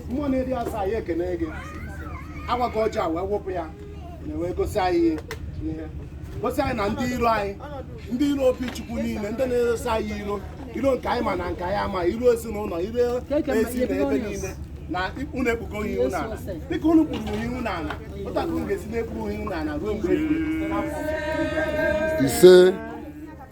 mmụọ na-eri asaa anyị ekene gị agwa gị ọjọọ wee wepụ ya wee gosi anyị ihe gosi anyị na ndị iro anyị ndị iro obi chukwu niile ndị na-erosi anyị iro iro nke anyị ma na nke anyị ama iro ezinụlọ iro ezi na ebe niile na unu ekpugo ihu unu ala dịka unu kpuru ihu unu ala otu a ka unu ga-esi na-ekpuru ihu unu ala ruo mgbe ise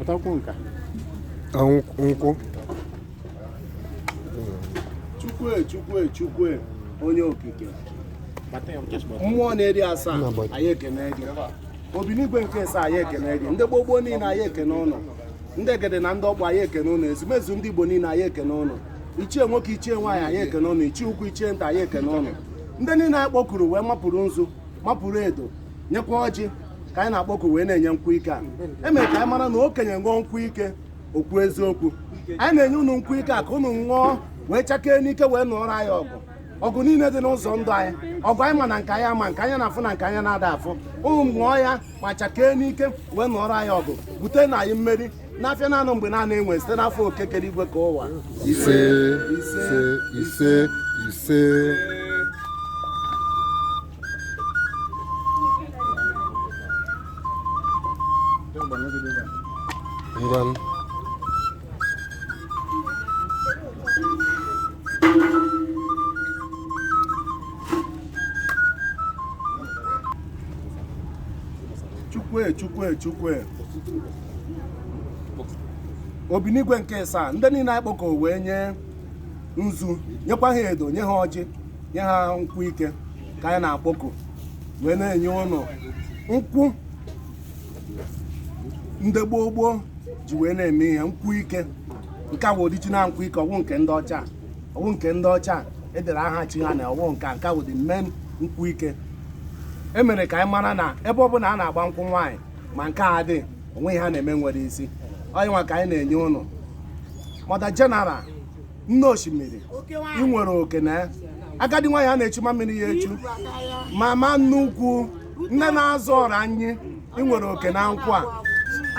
Ọtakwu nka. nkwụ Chukwu e, Chukwu e, Chukwu e, onye okike mmụọ na-eri asaa anyị ekene gị obinigwe nke isaa anyị ekene gị ndị gboo gboo niile anyị ekene ụnụ ndị egede na ndị okpu anyị ekene ụnụ ezumezu ndị igbo niile anyị ekene ụnụ ichie nwoke ichie nwaanyị anyị ekene ụnụ ichie ukwu ichie nta anyị ekene ụnụ ndị niile anyị kpọkuru wee mapụrụ nzu mapụrụ edo nyekwa ọjị ka anyị na-akpọku wee na-enye nkwụ ike a emere ka anyị mara na okenye ṅụọ nkwụ ike o kwuo eziokwu anyị na-enye unu nkwụ ike a ka unu ṅụọ wee chakee n'ike wee nụọrọ anyị ọgụ ọgụ niile dị n'ụzọ ndụ anyị ọgụ anyị ma na nke anyị ama nke anyị na-afụ na nke anyị na-ada afụ unu ṅụọ ya ma chakee n'ike wee nụọrọ anyị ọgụ bute na anyị mmeri n'afịa naanọ mgbe niile wee site n'afa oke kere igwe kee ụwa ise ise ise ise ngwanụ chukwu e chukwu e chukwu e obinigwe nke isaa ndị niile anyị kpọkuru wee nye nzu nyekwa ha edo nye ha ọjị nye ha nkwụ ike ka anyị na-akpọku wee na-enye ụnụ nkwụ ndị gboo gboo ji wee na-eme ihe nkwụ ike nke a bụ original nkwụ ike ọ wụ nke ndị ọcha ọ wụ nke ndị ọcha e dere aha chi ha na ọ wụ nke nke a bụ the main nkwụ ike e mere ka anyị mara na ebe ọ bụla a na-agba nkwụ nwaanyị ma nke a dị o nwe ihe a na-eme nwere isi ọ ya nwa ka anyị na-enye ụnụ mother general nne osimiri ị nwere oke na agadi nwaanyị a na-echu ma mmiri ya echu mama nnukwu nne na-azụ ọra anyị ị nwere oke na nkwụ a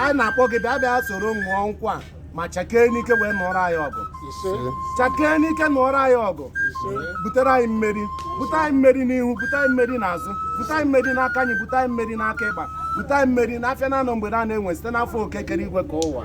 a na-akpọ gị bịa bịa soro ṅụọ nkwụ a ma chakee n'ike wee nụọrọ anyị ọgụ chakee n'ike nụọrọ anyị ọgụ butere anyị mmeri bute anyị mmeri n'ihu bute anyị mmeri n'azụ bute anyị mmeri n'aka nri bute anyị mmeri n'aka ịkpa bute anyị mmeri n'afịa naanọ mgbe niile wee site n'afa oke kere igwe kee ụwa